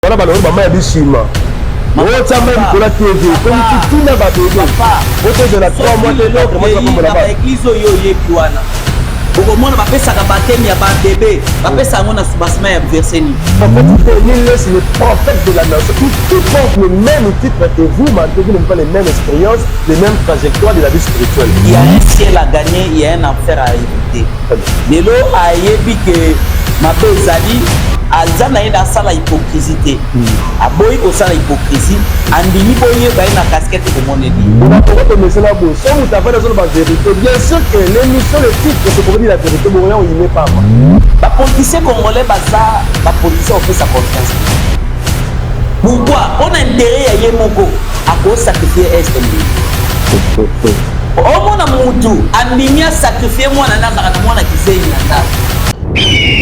wana balongi mama ya bisima otyamba likolo tv ekomi titina babebe otozela 3 mois te loko mazakombola ba eglise oyo oyebi wana okomona bapesaka bateme ya babebe bapesa yango na soubassement ya verseni Nilles, le prophète de la nation, qui tout porte le même titre que vous, malgré vous n'avez pas les mêmes expériences, les mêmes trajectoires de la vie spirituelle. Il y a un ciel à gagner, il y a un enfer à éviter. Lelo ayebi que mabe ezali aza na ye na asala hypocrisie te hmm. aboyi kosala hypocrisie andimi boyeba ye na casquette ekomoneli okomesela boye so moto avandi azoloba verité bien sûr que l'émission le titre sokokomi la verité bokoya oyime papa bapolitisie congolais baza bapolitisie opesa confiance pourquoi mpo na intere ya ye moko Ako sacrifier est elingi. omona mutu andimi asakrifie mwana na mbaka na mwana kizengi na ndako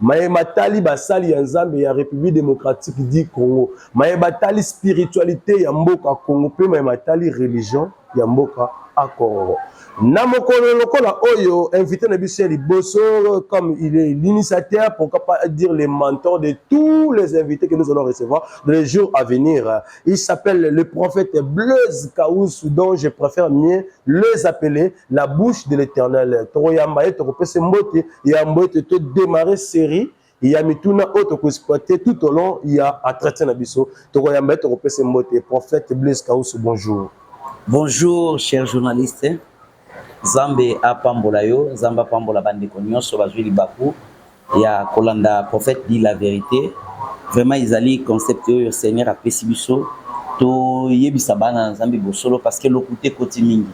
maye matali basali ya Nzambe ya Republique democratique du Congo, maye batali spiritualite ya mboka Congo mpe maye matali religion ya mboka a Congo. Na mokolo lokola oyo, invité na biso ya liboso, comme il est l'initiateur, pourquoi pas dire le mentor de tous les invités que nous allons recevoir dans les jours à venir. Il s'appelle le prophète Blaise Kaoussou, dont je préfère mieux les appeler la bouche de l'éternel. Toko yamba ye, toko pese mbote, yambo ete to démarrer série, ya mituna oyo toko exploiter tout au long ya entretien na biso. Toko yamba ye, toko pese mbote. Prophète Blaise Kaoussou, bonjour. Bonjour, cher journaliste. Nzambe apambola yo, Nzambe apambola ba ndeko nionso bazui libaku ya kolanda prophète dit la verite. Vraiment ezali concept oyo Seigneur apesi biso toyebisa bana na Nzambe bosolo parce que lokuta ekoti mingi,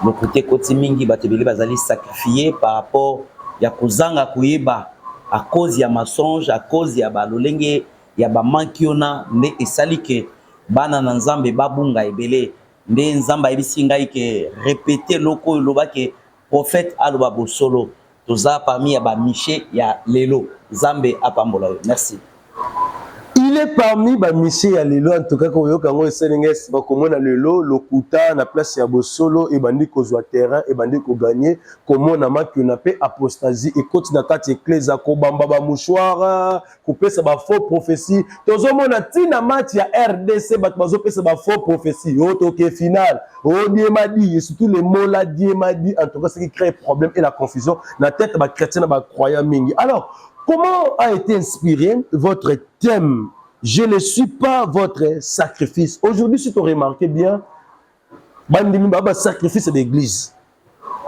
lokuta ekoti mingi, bato ebele bazali sacrifier par rapport ya kozanga koyeba à cause ya mensonge, à cause ya ba lolenge ya ba manki ona nde esali que bana na Nzambe babunga ebele. Nde Nzambe ayebisi ngai ke repete eloko oyo loba ke prophète aloba bosolo. Toza parmi ya ba miche ya lelo. Nzambe apambola yo. Merci. Il est parmi ba miche ya lelo en tout cas koyoka yango esali ngai sima komona lelo lokuta na place ya bosolo ebandi kozua terrain ebandi ko gagner komona makiona pe apostasie ekoti na kati eklezia kobamba ba mouchoirs kopesa ba faux prophetie tozomona ntina match ya rdc bato bazopesa ba faux prophetie o oh, toke final o oh, diemadi et surtout le mola diemadi en tout cas ce qui crée problème et la confusion na tête ba chrétien na ba croyant mingi alors comment a été inspiré votre thème je ne suis pas votre sacrifice aujourd'hui si tu remarqué bien bandimi ba sacrifice d'église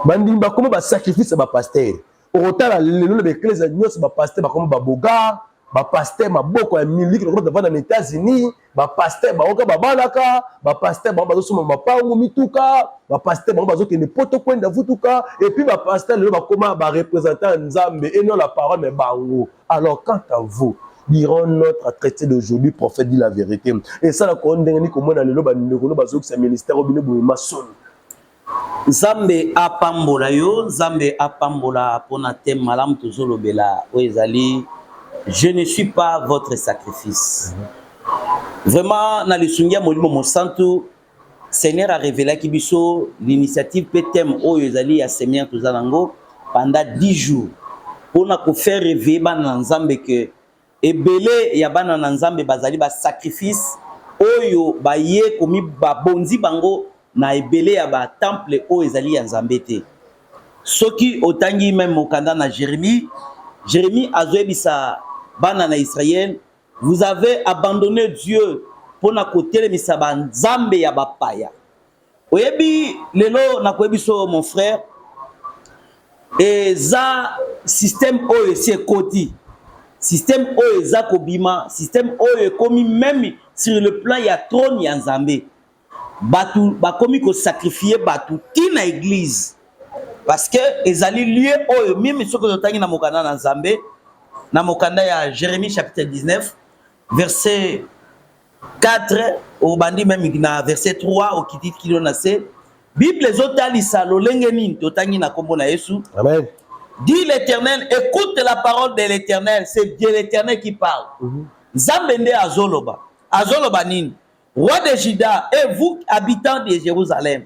bandimi bakoma ba sacrifice ya ba pasteur okotala lelo na baeklezia nyonso bapaster bakoma babogar bapaster maboko ya miliki lokola bavanda na états-unis bapaster baoka babalaka bapaster bango bazosomba mapango mituka bapaster bango bazokende poto kwenda vutuka epuis bapaster lelo bakoma barepresentant ya nzambe eno la parole na bango alors quant à vous diront notre traité d'aujourd'hui prophète dit la vérité esalaka o ndenge nini komona lelo bandeko no bazokisa ministère o bino boye masolo Nzambe apambola yo, Nzambe apambola pona thème malamu tozolobela oyo ezali je ne suis pas votre sacrifice. Vraiment na lisungi ya Molimo Mosantu Seigneur a révélaki biso l'initiative pe thème oyo ezali ya semaine toza nango pendant 10 jours pona ko faire réveiller bana na Nzambe que Ebele ya bana na Nzambe bazali ba sacrifice oyo baye komi babonzi bango na ebele ya ba temple oyo ezali ya Nzambe te. Soki otangi meme mokanda na Jeremie, Jeremie azoyebisa bana na Israël, vous avez abandonne Dieu pona kotelemisa ba nzambe ya bapaya. oyebi lelo nakoyebi so mon frère eza système oyo esi ekoti système oyo eza kobima système oyo ekomi meme sur le plan ya trône ya nzambe bato bakomi kosakrifie bato ti na eglize parce que ezali lieu oyo mimi soki ozotangi na mokanda na nzambe na mokanda ya jérémie chapitre 19 verset 4 obandi meme na verset 3 okiti kilo na se bible ezotalisa lolenge nini totangi na nkombo na yesu amen dit l'éternel écoute la parole de l'éternel c'est de l'éternel qui parle mhm. nzambe nde azoloba azoloba nini roi de juda et vous habitants de jérusalem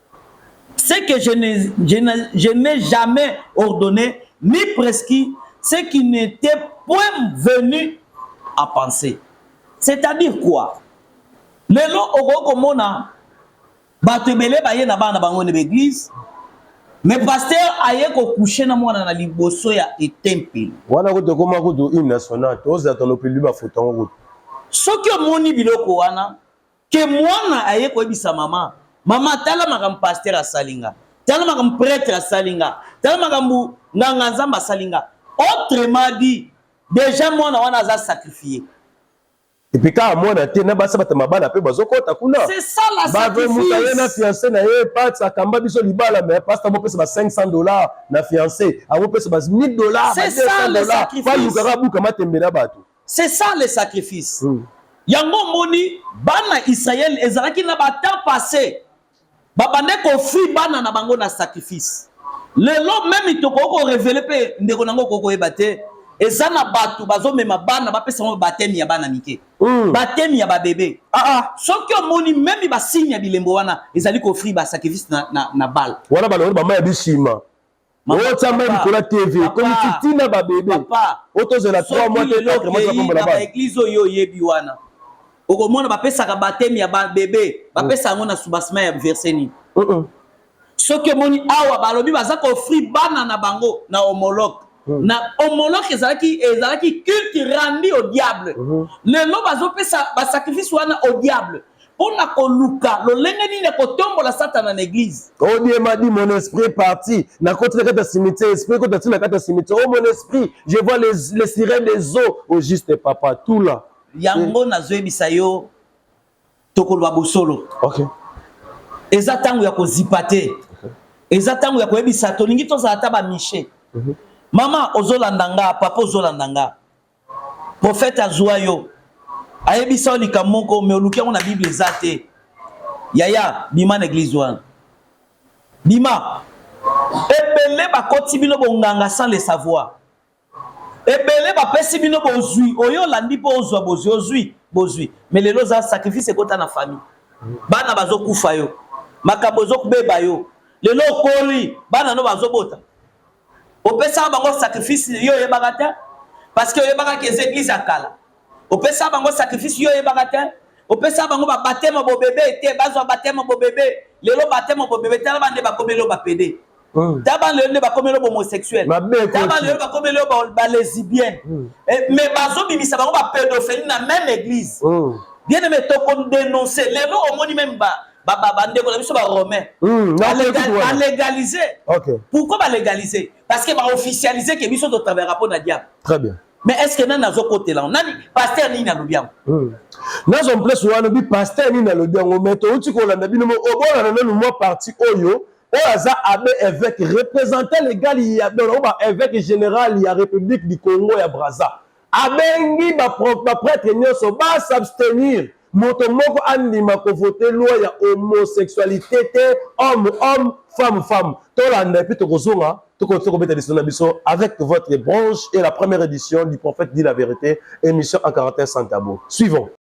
Ce que je ne, je ne, je n'ai jamais ordonne ni prescrit ce qui n'etait point venu à penser. C'est-à-dire quoi? Lelo okoki komona bato ebele baye na bana bango na baeglise me pasteur aye kokouche na mwana na liboso ya etempelo wana kutu ekoma kutu hymne national tozala tolopeli bafoto yango kutu soki omoni biloko wana Ke mwana aye koyebisa mama, mama tala makambo pasteur asali nga, tala makambo pretre asali nga, tala makambo nganga nzambe asali nga. Autrement dit, deja mwana wana aza sacrifier. epuis kaka mwana te na basi bata mabala mpe bazokɔta kuna bave moto aye na fiance na ye pats akamba biso libala me pasta amopesa ba 500 dollar na fiance amopesa ba 1000 dollar ba 200 dollar balukaka abuka matembe na bato C'est ça le sacrifice. Mm. Yango moni bana Israël ezalaki na ba temps passé babande kofi bana na bango na sacrifice. Lelo meme tokoki ko révéler pe ndeko nango okoki koyeba te eza na bato bazomema bana bapesa yango batemi ya bana mike mm. batemi ya babebe ah, ah. soki omoni memi basigne ya bilembo wana ezali kofri basacrifice na, na, na bale wana balongoli bama ya bisima otamba likolo ya tv ekomisi ntina babebe oyo tozela 3 mois te 4 mois tokombola bana eglise oyo oyebi wana okomona bapesaka batemi ya babebe bapesa yango na subasima ya verse nini soki omoni awa balobi baza koofri bana na bango na homologue hmm. na homologue ezalaki ezalaki culte randi au diable hmm. lelo bazopesa basacrifice wana au diable pona koluka lolenge nini akotombola satana na eglise odiem adi mon esprit est parti nakoti na kati ya cimetière esprit ekoti ati na kati ya cimetière o oh, mon esprit je vois les, les sirènes des eaux au juste papa tout là yango nazoyebisa yo tokoloba bosolo okay. eza ntango ya kozipa te okay. eza ntango ya koyebisa tolingi tozala ata bamishe mm -hmm. mama ozolanda nga papa ozolanda nga Prophète azua yo. Ayebisa yo likambo moko mais oluki yango na Bible eza te. Yaya, bima na église wana. Bima. Ebele bakoti bino bonganga sans le savoir. ebele bapesi bino bozwi oyo olandi mpo ozwa bozwi ozwi bozwi me lelo oza sacrifice ekota na famille bana bazokufa yo makambo ezobeba yo lelo okoli bana no bazobota opesaka bango sacrifice yo oyebaka te parce que oyebaka ke eza eglise ya kala opesaka bango sacrifice yo oyebaka te opesaka bango babateme bobebe te bazwa bateme bobebe lelo bateme bobebe tala bande bakomeli yo bapede hmm. ta bana lelo nde bakomeli yo bomosexuel ta bana lelo bakomeli yo balesibienne hmm. eh, mais bazobimisa bango bapedophilie na même église hmm. bien aime tokodénonce lelo omoni meme ba bandeko na biso baromain hmm, balegalize pourquoi balegalize parce que baofficialise ke biso totravaillaka mpo na diable très bien mais est ce que nani azokotela yango nani paster nini alobi yango hmm. nazo mplace wana alobi paster nini alobi yango mai touti kolanda bino obolana nanu mwa parti oyo oyo aza abe évêque représentant légal ya baevêque général ya république du congo ya braza Abengi ba prêtre nyonso ba s'abstenir moto moko andima ko voter loi ya homosexualite te homme homme femme femme tolanda epuis tokozonga tokoki kobeta lisolo na biso avec votre branche et la première édition du prophète dit la vérité émission en caractère sans tabou suivons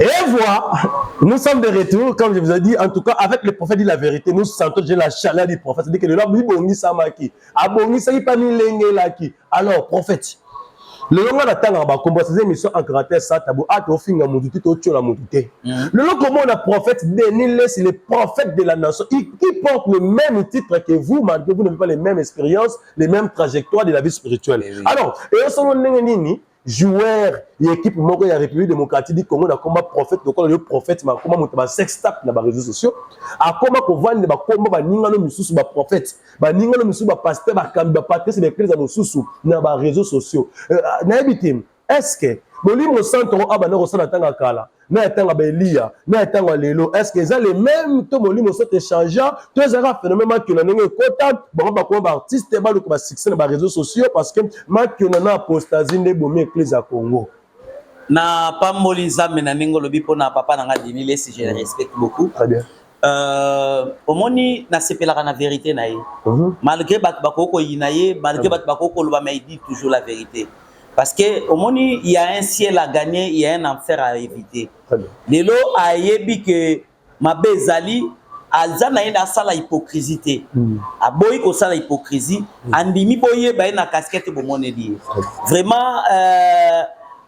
Et voilà, nous sommes de retour, comme je vous ai dit, en tout cas, avec le prophète dit la vérité, nous sentons déjà la chaleur du prophète, c'est-à-dire que le lobby bongisamaki, abongisaki pas milengelaki. Alors, prophète, lelo ngai natangaka bakombosa eza émission en caractère sa tabu ata ofinga motu te totyola motu te mm. lelo komona prophète denis lesi le prophète de la nation qui porte le même titre que vous malgré vous n'avez pas les mêmes expériences les mêmes trajectoires de la vie spirituelle alors eyo solo ndenge nini joueur ya ekipe moko ya république démocratique du congo na komba prophète lokola yo prophète makoma moto ba sex tap na ba réseaux sociaux akoma kovanda bakomba baningano misusu ba prophète baningano misusu ba pasteur bakambi ba patrice ba eklesa mosusu na ba réseaux sociaux euh, nayebi te est ce que molimo santo oyo abanda kosala ntanga kala na ya ntango ya baeliya na ya ntango ya lelo estce eza le meme to molimo soki echangea to ezalaka phénomène makiona ndenge ekota bango bakoma baartiste baluka basuccès na bareseau sociaux parce que makiona na apostasie nde ebomi eklise ya congo na pamboli nzambe na ndenge olobi mpo na papa na ngai dini lesi je le respecte beaucoup très bien Euh, omoni nasepelaka na verité na ye mhm. malgré bato bakoki koyina ye malgré mhm. bato bakoki koloba mais il dit toujours la vérité Parce que au moins il y a un ciel à gagner, il y a un enfer à éviter. Lelo ayebi que mabe ezali aza na ye na asala hypocrisie te hmm. aboyi kosala hypocrisie hmm. andimi boyeba ye na casquette bomoneli ye vraiment euh,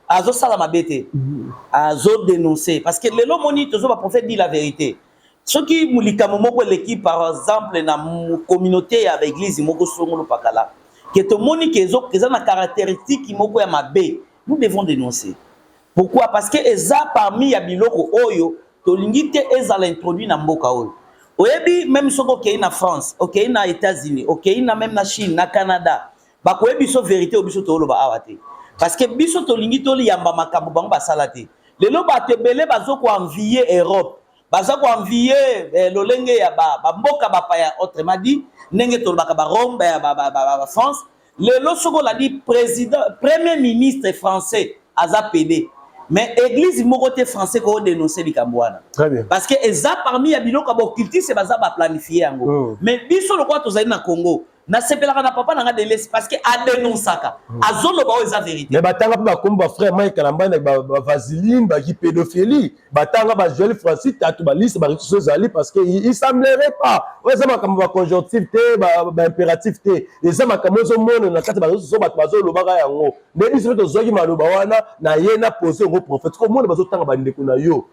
azosala mabe te hmm. azodenonce parce que lelo moni tozo baprophète dit la vérité soki likambo moko eleki par exemple na communauté ya ba eglise moko songolo pakala ke tomoni ke eza na caractéristique moko ya mabe nous devons dénoncer pourquoi parce que eza parmi ya biloko oyo tolingi te ezala introduit na mboka oyo oyebi meme soki okei na france okei na états-unis okei na meme na chine na canada Bakoyebi biso verite oyo biso tooloba awa te, parce que biso tolingi toliyamba makambo bango basala te. Lelo bato ebele bazo ko envier Europe, baza ko envier eh, lolenge ya ba, ba mboka bapaya, autrement dit ndenge tolobaka ba Rome ba, ba, ba, ba, ba France. Lelo soko olandi president premier ministre français aza pede mais église moko te français ko dénoncer likambo wana parce que eza parmi ya biloko ya boccultiste baza ba planifier yango oh. mais biso lokola tozali na Congo nasepelaka na papa na nga delesi parce que adenoncaka hmm. azoloba oyo eza vérité mais batanga mpe bakomi bafrère mike kalambani na bavaseline baki pédophilie batanga bajoel francis tatu baliste barituso ezali parce que il semblerait pas oyo eza makambo baconjonctive te baimpératif te eza makambo ezomonana na kati bareseau so bato bazolobaka yango nde biso mpe tozwaki maloba wana na ye na pose yango prophète komona bazotanga bandeko na yo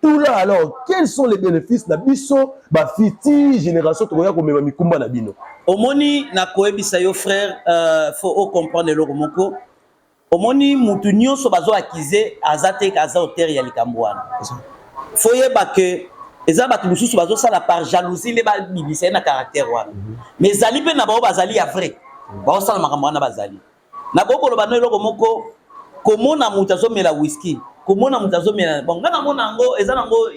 tula alors quels sont les bénéfices na biso ba future génération tokoya komema mikumba na bino omoni na koyebisa yo frère euh, faut o comprendre eloko moko omoni mutu nyonso bazo akize aza te aza auteur ya likambo wana faut yeba que eza bato mosusu bazosala par jalousie nde babimisa ye na caractère wana mhm. mais ezali mpe na bango bazali ya vrai mhm. baosala makambo wana bazali Nakoki koloba no eloko moko, komona moto azomela whisky, komona moto azomela bon, ngai namona yango eza nango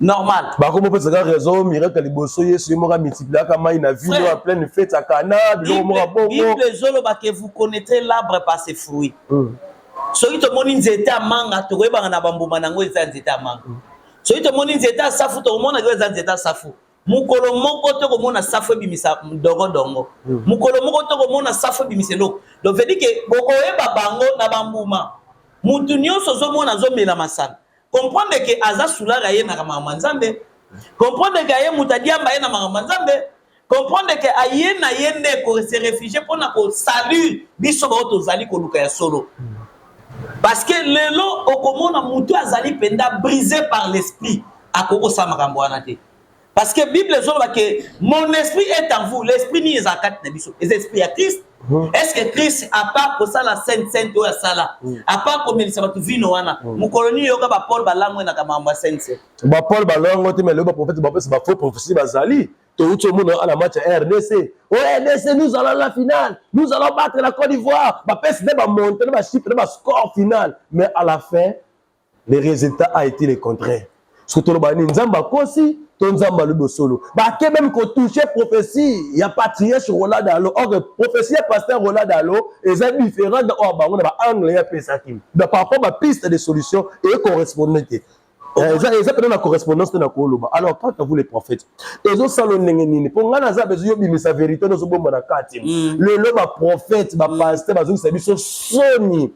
normal. Bakomi opesa ka raison miracle ya liboso Yesu ye moko amultipliaka mai na vino ya pleine fete ya Kana biloko moko bongo. Bible ezoloba que vous connaîtrez l'arbre par ses fruits. Mm. Soki tomoni nzete ya manga tokoyebaka na bambuma na yango eza nzete ya manga. Mm. Soki tomoni nzete ya safu tokomona eza nzete ya safu. mokolo moko to komona safu ebimisa dongo dongo hmm. mokolo moko to komona safu ebimisa eloko donc veut dire que bokoyeba bango na bambuma mutu nyonso ozomona azomela masanga comprendre ke aza sulara ye na makambo ya nzambe comprendre ke aye moto adiamba ye na makambo ya nzambe comprendre ke aye na ye nde kose refugie mpo na kosalut biso bao tozali koluka ya solo parce que lelo okomona moto azali mpenza brise par l'esprit akoki kosala makambo wana te parce que bible ezoloba ke mon esprit est en vous l'esprit nini ezala kati na biso eza esprit ya christ hmm. est ce que christ apart kosala sainte sainte oyo asala hmm. apart komelisa bato vino wana hmm. mokolo nini yoka bapole balango enaka makambo ya sainte sainte bapole balango te melo baprofete bapesa bafaux prophetie bazali touti omona ana match ya rdc o rdc nous allons la finale nous allons battre la côte d'ivoire bapesi nde bamonte nde bachiffre nde bascore finale mais à la fin le resultat a été le contraire soki toloba nini nzambe akosi to nzambe alobi bosolo bake meme kotouche prophetie ya patriarche rola dalo or prophetie ya pasteur rola dalo eza différent na oyo bango na baangle ye apesaki donc par rapport bapiste de solution eye correspondre te eh, eza eza mpena na correspondance te na koloba alors quant à vous les prophètes ezosala ndenge nini mpo ngai naza bezo yobimisa verité nozobomba na kati mm. lelo baprophète bapaster bazongisa biso soni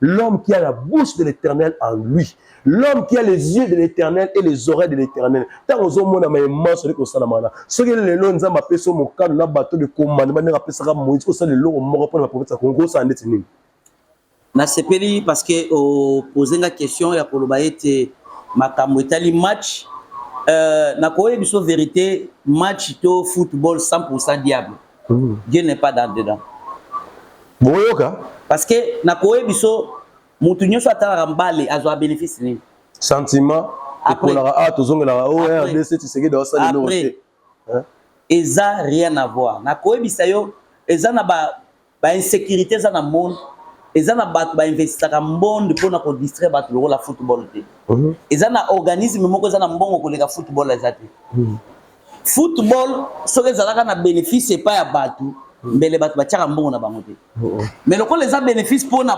L'homme qui a la bouche de l'éternel en lui. L'homme qui a les yeux de l'éternel et les oreilles de l'éternel. Ntango ozomona ma emanso eke kosalama wana soki lelo nzambe apesi yo mokano na bato de komandema ndenge apesaka moïse osala eloko moko mpo na baprofeta kongo kosala ndeti nini nasepeli parce que opose nga question ya koloba ete makambo etali match euh, nakoyebisa verité match to football 100 diable Dieu n'est pas dans dedans. Boyoka. Parce que na koye biso mutu nyoso atalaka mbale azwa bénéfice nini? Sentiment ekolaka a ah, tozongelaka o oh, RDC Tshisekedi asali eloko te. Eza rien à voir. Na koyebisa yo eza na ba ba insécurité eza na monde eza na bato bainvestaka mbonde mpo na kodistraire bato lokola football te mhm. eza na organisme moko eza na mbongo koleka football eza te mhm. football soki ezalaka na benefice epai ya bato hmm. mbele bato batiaka mbongo na bango te oh, oh. me lokola eza benefice mpo na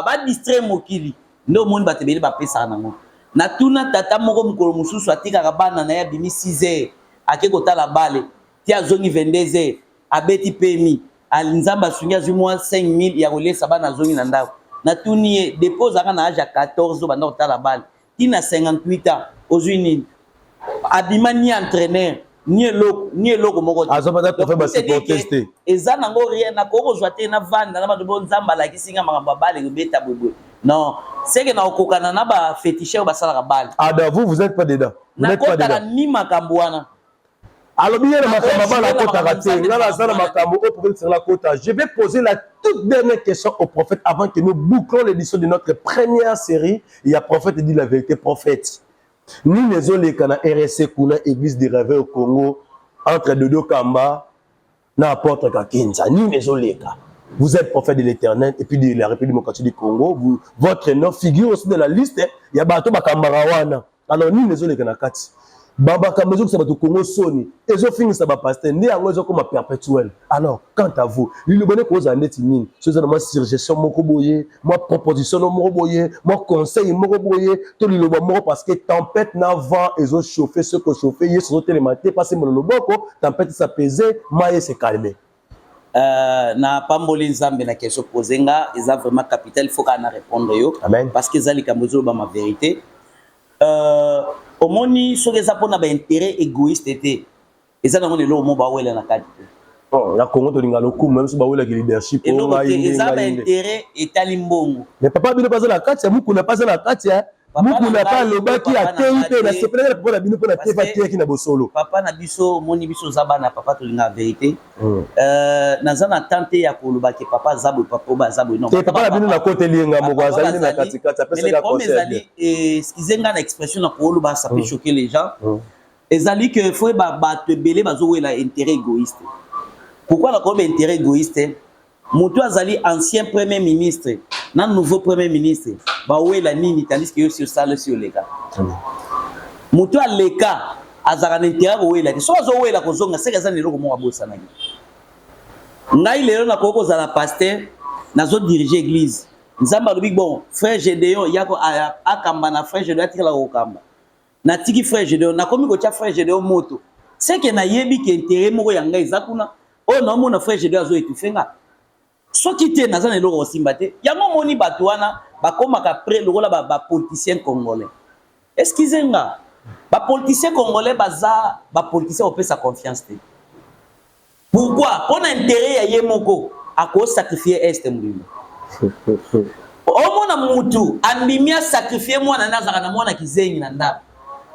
badistrai mokili nde omoni bato ebele bapesaka nango natuna tata moko mokolo mosusu atikaka bana na ye abimi 6 heures ake kotala bale ti azongi 22 heures abeti pemi nzambe asungi azwi mwa 5000 ya kolesa bana azongi na ndako natuni ye depo ozalaka na age ya 14 obanda kotala bale ti na 58 ans ozui nini abima ni entraîneur ni eloko ni eloko moko te aza baza kofe basupportes te eza nango rien nakoki kozwa te navanda na bato bo nzambe alakisi nga makambo ya bale kobeta boyeboye non seke na kokokana na bafetishe oyo basalaka bale ada vous vous êtes pas dedans nakotala ni makambo wana alobi ye na makambo ya bana akotaka te nga naza na makambo oyo prophète sengela akota je vais poser la toute dernière question au prophète avant que nous bouclons l'édition de notre première série ya prophète dit la vérité prophète nini ezoleka na rsc kuna église de réveil au congo entre dodo kamba na apotre Kakenza nini ezoleka vous êtes prophète de l'éternel et puis de la République démocratique du Congo vous, votre nom figure aussi dans la liste ya bato bakambaka wana alors nini ezoleka na kati bamakambo ezokisa bato kongo soni ezofingisa bapaster nde yango ezokoma perpétuel alors quant à vous liloba nde kozala ndeti nini so eza na mwa surgestion moko boye mwa proposition no moko boye mwa conseil moko boye to liloba moko parce que tempête na vent ezo chauffe ce que chauffe yesu azotelema te pasi mbolo loboko tempête sa pese maye se calme Euh, na pamboli nzambe na question pose nga eza vraiment capital faut kaka na répondre yo Amen. parce que eza likambo ezolobama vérité euh, omoni soki eza mpona baintérêt égoïste te Eza nango na eloko moko bawela na kati te. Oh, na Congo tolinga lokumu même si bawela ki leadership oh, eloko te eza ba intérêt etali mbongo. Mais papa bino baza na kati ya mukuna paza na kati ya mukuna pa alobaki ateyi mpe na sepelaki na papa na bino mpo na tefa ateyaki na bosolo. Papa na biso omoni biso oza bana papa tolinga verite. Hmm. Euh, naza na temps te ya koloba ke papa aza boye papa oyo aza boye non. Te papa na bino na kote lienga moko azali na kati kati apesaka conseil. Mais le problème ezali eh, excusez nga na expression na koloba ça peut hmm. choquer les gens. Hmm. ezali que faut ba bato ebele bazowela intérêt égoïste pourquoi nakoyeba intérêt égoïste moto azali ancien premier ministre na nouveau premier ministre bawela nini tandis que yo si osala si oleka moto aleka azalaka na intérêt kowela te soki azowela kozonga seke aza na eloko moko abosanaki ngai lelo nakoki kozala paster nazodirige église nzambe alobi bon frère gedeon yako akamba na frère gedeon atikala kokamba natiki frère Gedeon nakomi kotia frère Gedeon moto seke nayebi ke intérêt moko ya ngai eza kuna oyo naomona frère Gedeon azo étouffe nga soki te naza na eloko kosimba te yango omoni bato wana bakomaka près lokola bapoliticien ba congolais eskize nga bapoliticien congolais baza bapoliticien kopesa confiance te Pourquoi? Pona interet ya ye moko ako sacrifier est mobimba. Omona mutu andimi a sacrifier mwana na azaka na mwana kizengi na ndako.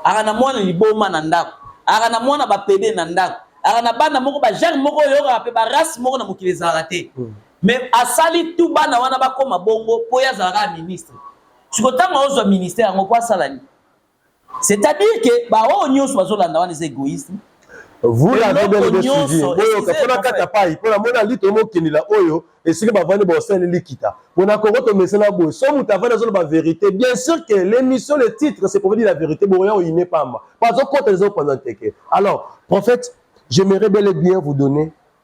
Aka na mwana liboma na ndako. Aka na mwana ba pede na ndako. Aka na bana moko ba genre moko oyokaka pe ba race moko na mokili ezalaka te. Hmm. Mais asali tout bana wana bakoma bongo po ye azalaka ministre. Siko tango ozwa ministère yango po asala nini? C'est-à-dire que ba oyo nyoso bazolanda wana eza egoïsme. Vous l'avez bel et bien suivi. Oyo kapona kata pai pona mona lito mo kendela oyo esika bavandi ba osali likita. Pona koko to mesena boye. So mutu avandi azolo ba vérité. Bien sûr que l'émission le titre c'est pour dire la vérité. Boya oyine pamba. Pazo kota les opanza teke. Alors, prophète, j'aimerais bel et bien vous donner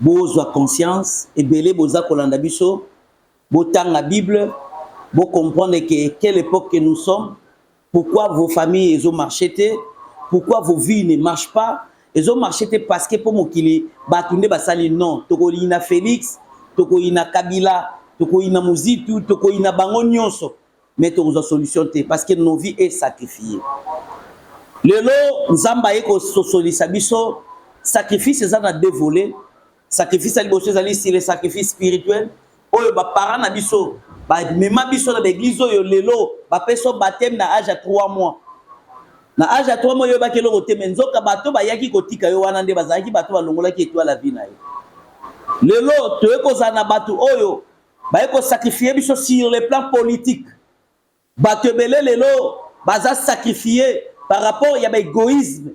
Bozwa conscience, ebele boza kolanda biso, botanga bible, bo comprendre que quelle epoque que nous sommes, pourquoi vos familles ezo marcher te, pourquoi vos vies ne marchent pas, ezo marcher te parce que po mokili batu nde basali, non, tokoyina Felix, tokoyina Kabila, tokoyina Muzitu, tokoyina bango nionso, mais tokozwa solution te parce que nos vies est sacrifié lelo nzambe aye kososolisa biso sacrifice eza na deux volets sacrifice ya liboso ezali si le sacrifice spirituel oyo baparent na biso bamema biso na baeglize oyo lelo bapesa bateme na age ya 3 mois na age ya 3 mois oyebaki eloko te me nzoka bato bayaki kotika yo wana nde bazalaki bato balongolaki etwala vi na yo lelo toye kozala na bato oyo baye ko sacrifier biso sur le plan politique bato ebele lelo baza sacrifier par rapport ya baegoïsme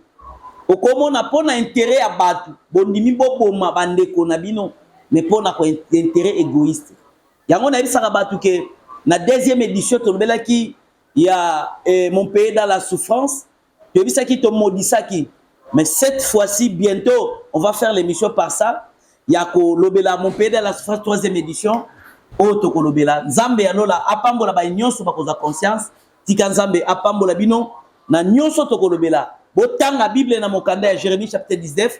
okomona mpo na intérêt ya bato bondimi boboma bandeko na bino mais mpo na intérêt égoïste yango nayebisaka bato ke na deuxième édition tolobelaki ya eh, mon pays dans la souffrance toyebisaki tomodisaki mais cette fois-ci bientôt on va faire l'émission par ça ya kolobela mon pays de la surface troisième édition oyo tokolobela nzambe ya lola apambola baye nyonso bakozwa conscience tika nzambe apambola bino na nyonso tokolobela botanga bible na mokanda ya jérémie chapitre 19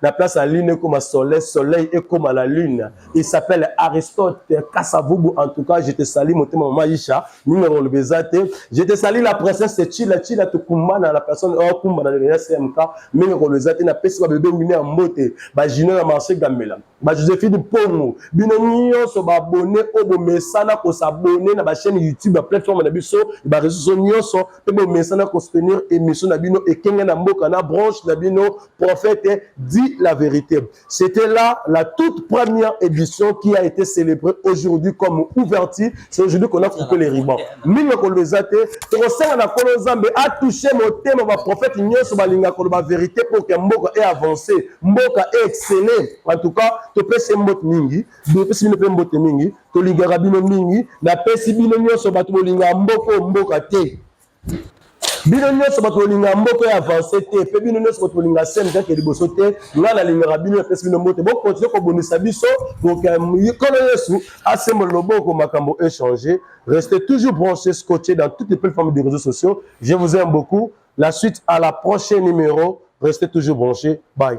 La place à lune comme soleil, soleil et comme à la lune. Il s'appelle Aristote Kassavubu. En tout cas, je te salue, mon maman Maïcha, numéro le Bézate. Je te salue, la princesse Chila Chila Tukumbana, la personne oh, Kumbana de la CMK, numéro le Bézate, na pesi ba bébé mine en beauté, ba Gino na marché Gamela, ba Josephine Pongo, bino nyonso ba abonné au bo mesana ko s'abonner na ba chaîne YouTube, la plateforme na biso, ba réseaux sociaux nyonso, pe bo mesana ko soutenir émission na bino et kenga na mboka na branche na bino prophète dit la vérité. C'était là la toute première édition qui a été célébrée aujourd'hui comme ouverture. C'est aujourd'hui qu'on a coupé les ribans. Mingo kolezate, tokosala na kolo Nzambe a touché motema ba prophète nyonso balinga koloba vérité pour que mboka ait avancé, mboka ait excellé. En tout cas, topesi mbote mingi, topesi bino mpe mbote mingi, tolingaka bino mingi, napesi bino nyonso bato bolingaka mboka mboka te. bino nyonso bato bolinga mboka ya avance te mpe bino nyonso bato bolinga sene kake liboso te ngai nalingaka bino napesi bino mbote bokontinue kobundisa biso kolo yesu asembola loboko makambo échange restez toujours branché scotché dans toutes les plateformes de réseaux sociaux je vous aime beaucoup la suite à la prochaine numéro restez toujours branché bye